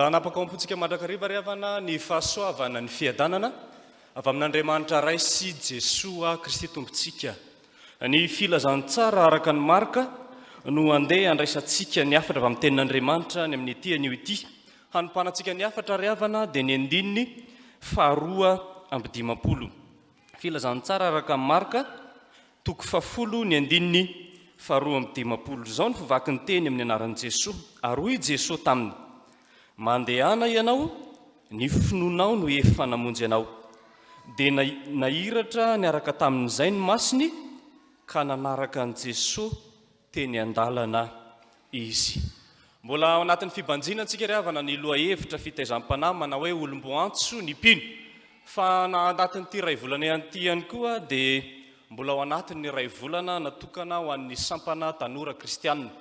hanapaka ao am-pontsika mandrakariva ry havana ny fahasoavana ny fiadanana avy amin'Andriamanitra Ray sy Jesoa Kristy Tompontsika. Ny filazantsara araka ny marka no andeha andraisantsika ny hafatra avy amin'ny tenin'Andriamanitra any amin'ity anio ity. Hanompanantsika ny hafatra ry havana dia ny andininy faharoa amby dimampolo. Filazantsara araka an'i Marka, toko fahafolo ny andininy faharoa amby dimampolo. Izao no fivaky ny teny amin'ny anaran'i Jesoa, ary hoy i Jesoa taminy, Mandehana ianao, ny finoanao no efa namonjy anao. Dia nahiratra niaraka tamin'izay ny masony ka nanaraka an'i Jesoa teny an-dalana izy. Mbola ao anatin'ny fibanjina antsika ry havana ny lohahevitra fitaizam-panahy manao hoe olom-boantso ny mpino. Fa na anatin'ity iray volana ihany ity ihany koa dia mbola ao anatin'ny iray volana natokana ho an'ny sampana tanora kristianina.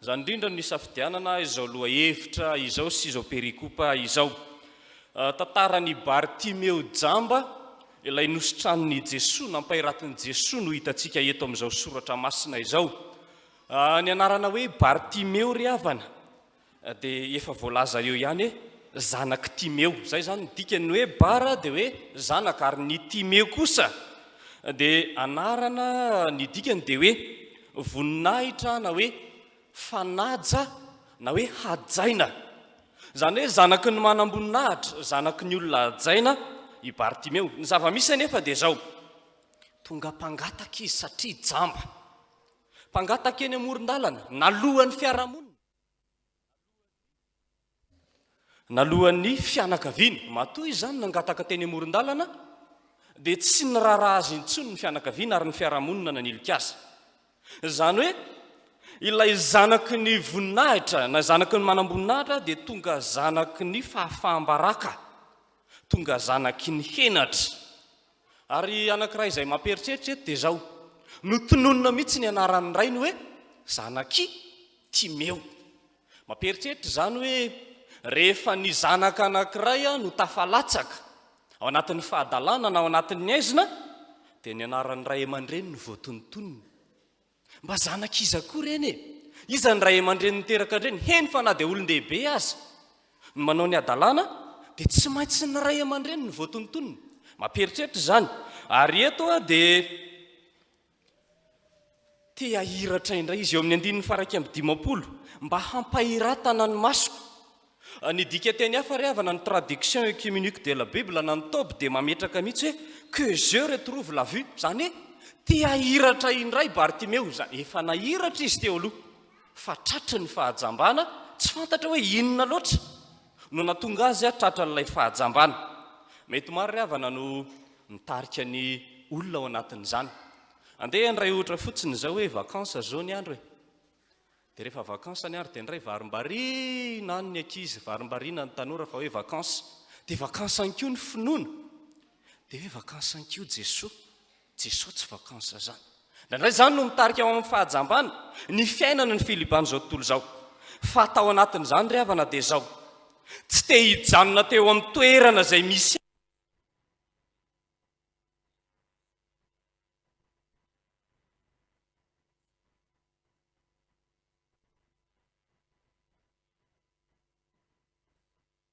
Izany indrindra no nisafidianana izao lohahevitra izao sy izao perikopa izao. Tantaran'i Bartimeo jamba. Ilay nositranin'i Jesoa, nampairatin'i Jesoa no hitantsika eto amin'izao soratra masina izao. Ah, ny anarana hoe Bartimeo ry havana, ah, dia efa voalaza eo ihany hoe zanak'i Timeo. Izay izany ny dikany, ny hoe Bara dia hoe zanaka, ary ny Timeo kosa dia anarana, ny dikany dia hoe voninahitra na hoe Fanaja na hoe hajaina. Izany hoe zanaky ny manamboninahitra, zanaky ny olona hajaina i Bartimeo. Ny zava-misy anefa dia izao, tonga mpangataka izy satria jamba. Mpangataka eny amoron-dalana, nalohan'ny fiarahamonina. Naloan'ny fianakaviany, matoa izy izany nangataka teny amoron-dalana, dia tsy niraharaha azy intsony ny fianakaviana ary ny fiarahamonina nanilika azy. Izany hoe, ilay zanaky ny voninahitra, na zanaky ny manamboninahitra dia tonga zanaky ny fahafaham-baraka, tonga zanaky ny henatra. Ary anankiray izay mampieritreritra eto dia izao, notononina mihitsy ny anaran'ny rainy hoe, Zanak'i Timeo. Mampieritreritra izany hoe rehefa ny zanaka anankiray no tafalatsaka ao anatin'ny fahadalana na ao anatin'ny aizina dia ny anaran'ny ray aman-dreny no voatonontonona. Mba zanak'iza koa ireny e? Iza ny ray aman-dreny niteraka an-dreny? Heny fa na dia olon-dehibe aza no manao ny hadalana dia tsy maintsy ny ray aman-dreny no voatonontonona. Mampieritreritra izany. Ary eto dia Te hahiratra indray izy eo amin'ny andininy faha iraika amby dimampolo, mba hampahiratana ny masoko. Ny dikanteny hafa re havana, ny Traduction Œcuménique de la Bible na ny Tob dia mametraka mihitsy hoe que yeux retrouvent la vue, izany hoe te hahiratra indray Bartimeo, izany efa nahiratra izy teo aloha fa tratry ny fahajambana tsy fantatra hoe inona loatra. no natonga azy tratran'ilay fahajambana. Mety maro ry havana no mitarika ny olona ao anatin'izany. Andeha handray ohatra fotsiny izao hoe vacances izao ny andro e! Dia rehefa vacances ny andro dia indray varimbariana any ny ankizy, varimbariana ny tanora fa hoe vacances. Dia vacances ihany koa ny finoana. Dia hoe vacances ihany koa Jesoa. Jesoa tsy vacances zany. Indraindray izany no mitarika ho amin'ny fahajambana ny fiainana ny filiban'izao tontolo izao. Fa tao anatin'izany ry havana dia izao, tsy te hijanona teo amin'ny toerana izay misy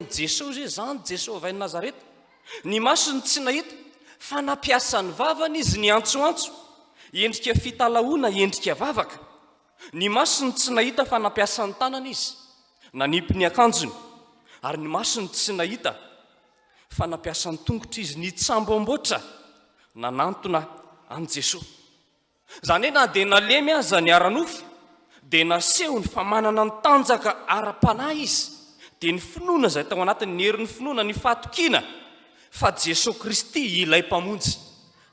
Naharen'i Jesoa izy hoe, Zany Jesoa avy any Nazareta. Ny masony tsy nahita, fa nampiasa ny vavany izy niantsoantso. Endrika fitalahoana, endrika vavaka. Ny masony tsy nahita, fa nampiasa ny tanany izy. Nanipy ny akanjony. Ary ny masony tsy nahita, fa nampiasa ny tongotra izy, nitsamboamboatra, nanantona an'i Jesoa. Izany hoe na dia nalemy aza ny ara-nofo, dia nasehony fa manana ny tanjaka ara-panahy izy, dia ny finoana izay tao anatiny, ny herin'ny finoana, ny fahatokiana fa Jesoa Kristy ilay Mpamonjy.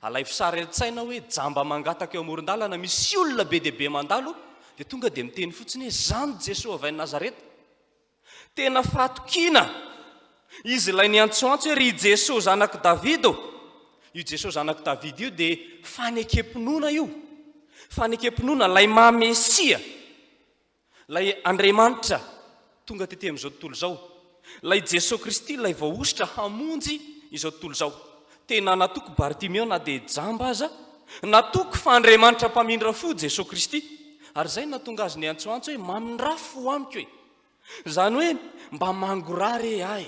Alaivo sary an-tsaina hoe jamba mangataka eo amoron-dalana, misy olona be dia be mandalo, dia tonga dia miteny fotsiny hoe, Zan Jesoa avy any Nazareta. Tena fahatokiana! Izy ilay niantsoantso hoe ry Jeso zanak'i Davida ô! Io Jeso zanak'i Davida io dia fanekem-pinoana io, fanekem-pinoana ilay maha Mesia, ilay Andriamanitra tonga tety amin'izao tontolo izao, ilay Jeso Kristy ilay voahosotra hamonjy izao tontolo izao. Tena natoky Bartimeo na dia jamba aza, natoky fa Andriamanitra mpamindra fo Jeso Kristy, ary izay no nahatonga azy niantsoantso hoe mamindrafo amiko e! Izany hoe mba mangorà re ahy,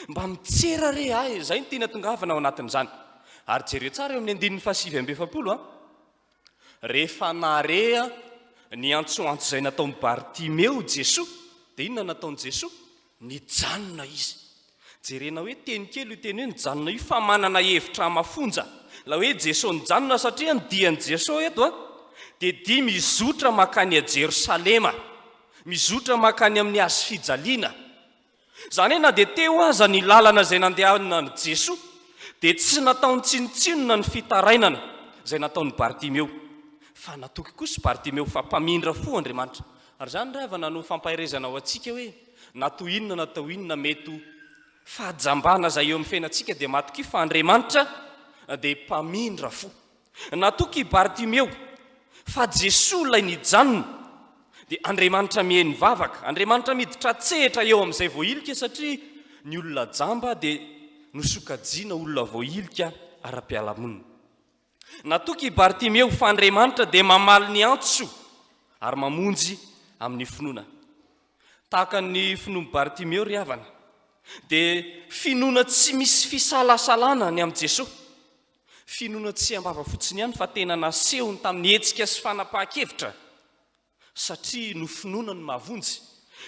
mba mitsera re ahy, izay no tiany hatongavana ao anatin'izany. Ary jereo tsara eo amin'ny andininy fahasivy amby efapolo an! Rehefa nare ny antsoantso izay nataon'i Bartimeo Jesoa, dia inona no nataon'i Jesoa? Nijanona Izy. Jerena hoe teny kely io teny hoe nijanona io fa manana hevitra mafonja. Ilay hoe Jeso nijanona satria ny dian'i Jeso eto dia dia mizotra mankany a Jerosalema, mizotra mankany amin'ny hazo fijaliana. Izany hoe na dia teo aza ny lalana izay nandehanan'i Jeso dia tsy nataony tsinontsinona ny fitarainana izay nataon'i Bartimeo. Fa natoky kosa i Bartimeo fa mpamindra fo Andriamanitra Ary izany re havana no fampaherezana ho antsika hoe na toy inona na tao inona mety ho fahajambana izay eo amin'ny fiainantsika dia matokia fa Andriamanitra dia mpamindra fo. Natoky i Bartimeo fa Jesoa ilay nijanona dia Andriamanitra miheno vavaka, Andriamanitra miditra an-tsehatra eo amin'izay voahilika satria ny olona jamba dia nosokajiana olona voahilika ara-pialamonina. Natoky i Bartimeo fa Andriamanitra dia mamaly ny antso ary mamonjy amin'ny finoana. Tahaka ny finoan'i Bartimeo ry havana, dia finoana tsy misy fisalasalana ny amin'i Jesoa. Finoana tsy am-bava fotsiny ihany fa tena nasehony tamin'ny hetsika sy fanapahan-kevitra. Satria nofinoana ny mahavonjy.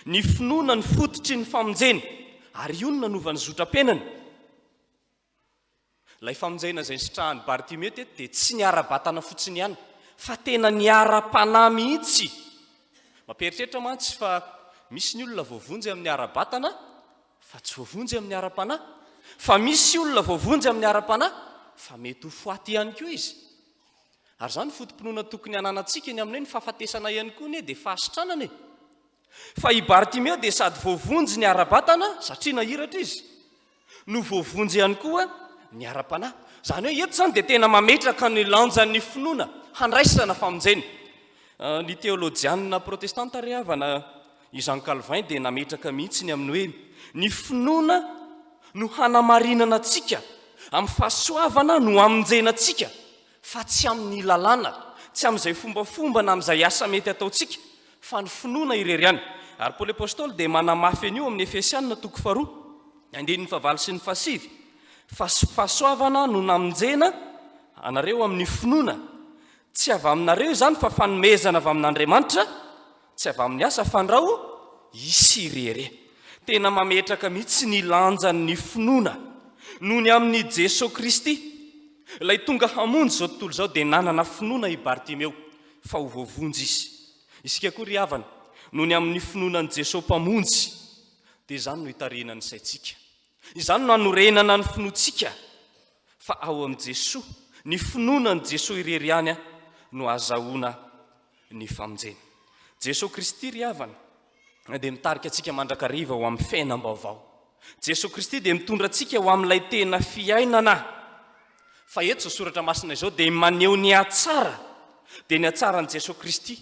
Ny finoana ny fototry ny famonjena. Ary io no nanova ny zotram-piainany. Ilay famonjena izay nisitrahan'i Bartimeo teto dia tsy ny ara-batana fotsiny ihany, fa tena ny ara-panahy mihitsy. Mampieritreritra mantsy fa misy ny olona voavonjy amin'ny ara-batana, fa tsy voavonjy amin'ny ara-panahy. Fa misy olona voavonjy amin'ny ara-panahy, fa mety ho foaty ihany koa izy. Ary izany foto-pinoana tokony hananantsika eny amin'ny hoe ny fahafatesana ihany koa anie dia fahasitranana e! Fa i Bartimeo dia sady voavonjy ny ara-batana, satria nahiratra izy, no voavonjy ihany koa ny ara-panahy. Izany hoe eto izany dia tena mametraka ny lanjan'ny finoana handraisana famonjena. Ny teolojianina protestanta re havana i Jean Calvin dia nametraka mihitsy ny amin'ny hoe ny finoana no hanamarinana antsika amin'ny fahasoavana no amonjena antsika fa tsy amin'ny lalàna, tsy amin'izay fombafomba na amin'izay asa mety ataontsika, fa ny finoana irery ihany. Ary Paoly Apostoly dia manamafy an'io amin'ny Efesiana toko faharoa, andininy fahavalo sy ny fahasivy, Fa fahasoavana no namonjena anareo amin'ny finoana, tsy avy aminareo izany, fa fanomezana avy amin'Andriamanitra, Tsy avy amin'ny asa fandrao is irery. Tena mametraka mihitsy ny lanjan'ny finoana noho ny amin'i Jesoa Kristy. Ilay tonga hamonjy izao tontolo izao dia nanana finoana i Bartimeo fa ho voavonjy izy. Isika koa ry havana, noho ny amin'ny finoana an'i Jesoa Mpamonjy dia izany no itarihina ny saintsika. Izany no anorenana ny finoantsika fa ao amin'i Jesoa, ny finoana an'i Jesoa irery ihany no azahoana ny famonjena. Jesoa Kristy ry havana dia mitarika antsika mandrakariva ho amin'ny fiainam-baovao. Jesoa Kristy dia mitondra antsika ho amin'ilay tena fiainana. Fa eto izao soratra masina izao dia maneho ny hatsara, dia ny hatsaran'i Jesoa Kristy.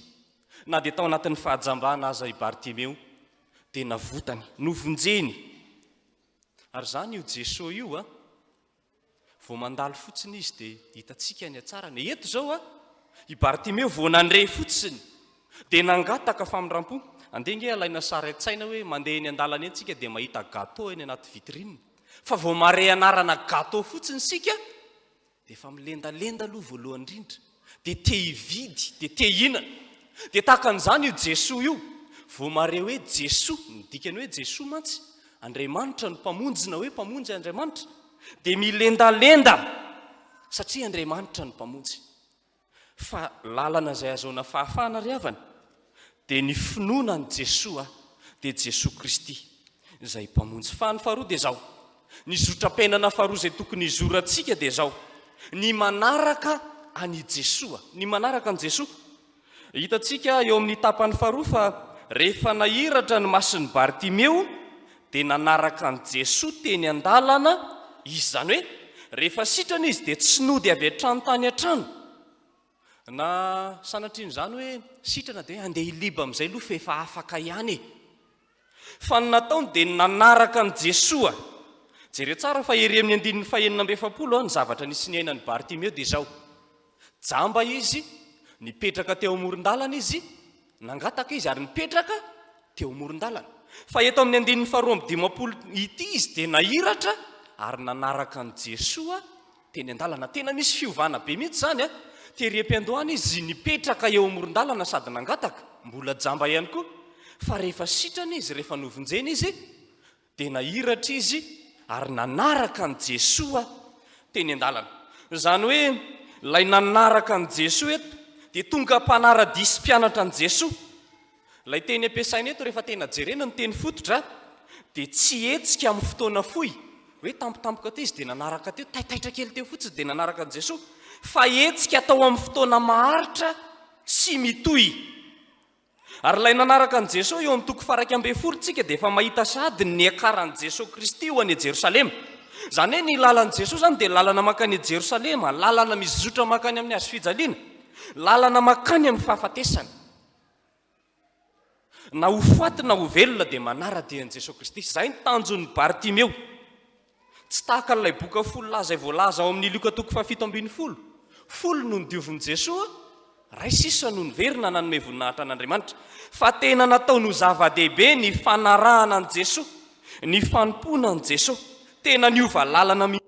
Na dia tao anatin'ny fahajambana aza i Bartimeo dia navotany, novonjeny. Ary izany io Jesoa io a, Vao mandalo fotsiny izy dia hitantsika ny hatsarany. Eto izao a, i Bartimeo vao nandre fotsiny dia nangataka famindram-po. Andeha ange alaina sary an-tsaina hoe mandeha eny an-dalana eny isika dia mahita gateau eny anaty vitrine. Fa vao mahare anarana gateau fotsiny isika dia efa milendalenda aloha voalohany indrindra. dia te hividy, dia te hihinana. Dia tahaka an'izany io Jesoa io, vao mahare hoe Jesoa, ny dikany hoe Jesoa mantsy, Andriamanitra no Mpamonjy na hoe Mpamonjy Andriamanitra, dia milendalenda satria Andriamanitra no Mpamonjy. Fa lalana izay ahazoana fahafahana ry havana, dia ny finoana an'i Jesoa dia Jesoa Kristy izay Mpamonjy. Fa ny faharoa dia izao, ny zotram-piainana faharoa izay tokony hizorantsika dia izao, ny manaraka an'i Jesoa, ny manaraka an'i Jesoa. Hitantsika eo amin'ny tapany faharoa fa rehefa nahiratra ny masin'i Bartimeo dia nanaraka an'i Jesoa teny an-dalana izy, izany hoe rehefa sitrana izy dia tsy nody avy hatrany tany an-trano, Na sanatria an'izany hoe sitrana dia handeha i Liba amin'izay aloha fa efa afaka ihany e! Fa ny nataony dia ny nanaraka an'i Jesoa. Jereo tsara fa ery amin'ny andininy fahenina amby efapolo ny zavatra nisy niainan'i Bartimeo dia izao, Jamba izy, nipetraka teo amoron-dalana izy, nangataka izy ary nipetraka teo amoron-dalana. Fa eto amin'ny andininy faharoa amby dimampolo ity izy dia nahiratra ary nanaraka an'i Jesoa, teny an-dalana. Tena misy fiovana be mihitsy izany a! Tery Ependo any izy nipetraka eo amoron-dalana sady nangataka, mbola jamba ihany koa, fa rehefa sitrana izy, rehefa novonjena izy, dia nahiratra izy ary nanaraka an'i Jesoa teny an-dalana. Izany hoe ilay nanaraka an'i Jesoa eto dia tonga mpanara-dia sy mpianatra an'i Jesoa. Ilay teny ampiasaina eto rehefa tena jerena ny teny fototra dia tsy hetsika amin'ny fotoana fohy, hoe tampotampoka teo izy dia nanaraka teo, taitaitra kely teo fotsiny dia nanaraka an'i Jesoa, fa hetsika atao amin'ny fotoana maharitra sy mitohy. Ary ilay nanaraka an'i Jesoa eo amin'ny toko faraika ambin'ny folo tsika dia efa mahita sady ny niakaran'i Jesoa Kristy ho any Jerosalema. Izany hoe ny lalan'i Jesoa izany dia lalana mankany Jerosalema, lalana mizotra mankany amin'ny hazofijaliana, lalana mankany amin'ny fahafatesana. Na ho faty na ho velona dia manara-dia an'i Jesoa Kristy. Izay ny tanjon'i Bartimeo. Tsy tahaka an'ilay boka folo lahy izay voalaza ao amin'ny Lioka toko fahafito ambin'ny folo. Folo no nodiovin'i Jesoa, iray sisa no niverina nanome voninahitra an'Andriamanitra. Fa tena nataony ho zava-dehibe ny fanarahana an'i Jesoa, ny fanompoana an'i Jesoa. Tena niova lalana mihitsy.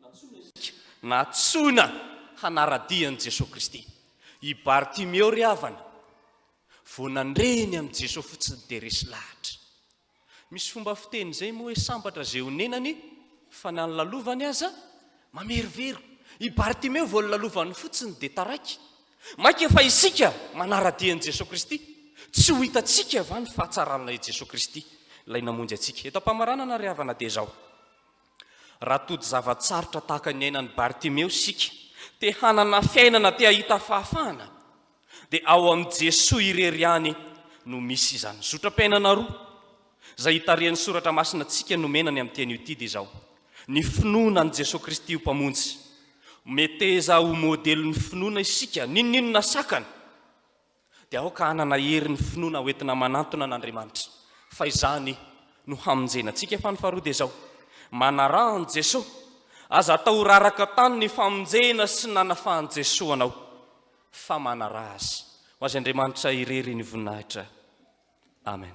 Nantsoina isika, nantsoina hanara-dia an'i Jesoa Kristy. I Bartimeo ry havana, vao nandre eny amin'i Jesoa fotsiny dia resy lahatra. Misy fomba fiteny izay moa hoe sambatra izay onenany fa na ny lalovany aza mamerovero. I Bartimeo vao nolalovany fotsiny dia taraiky. Mainka fa isika manara-dia an'i Jesoa Kristy. Tsy ho hitantsika va ny fahatsaran'ilay Jesoa Kristy, ilay namonjy antsika? Eto am-pamaranana ry havana dia izao, Raha tody zava-tsarotra tahaka ny iainan'i Bartimeo isika, te hanana fiainana, te hahita fahafahana, dia ao amin'i Jesoa irery ihany no misy izany. Zotram-piainana roa izay hitarihan'ny Soratra Masina antsika nomena ny amin'ny teny io Tide izao, ny finoana an'i Jesoa Kristy ho Mpamonjy. Meteza ho modelin'ny finoana isika, n'inon'inona sakana. dia aoka hanana hery ny finoana hoentina manantona an'Andriamanitra, fa izany no hamonjena antsika, fa ny faharoa dia izao, manaraha an'i Jesoa, aza atao ho raraka tany ny famonjena sy nanafahan'i Jesoa anao, fa manaraha Azy. Ho Azy Andriamanitra irery ny voninahitra. Amen.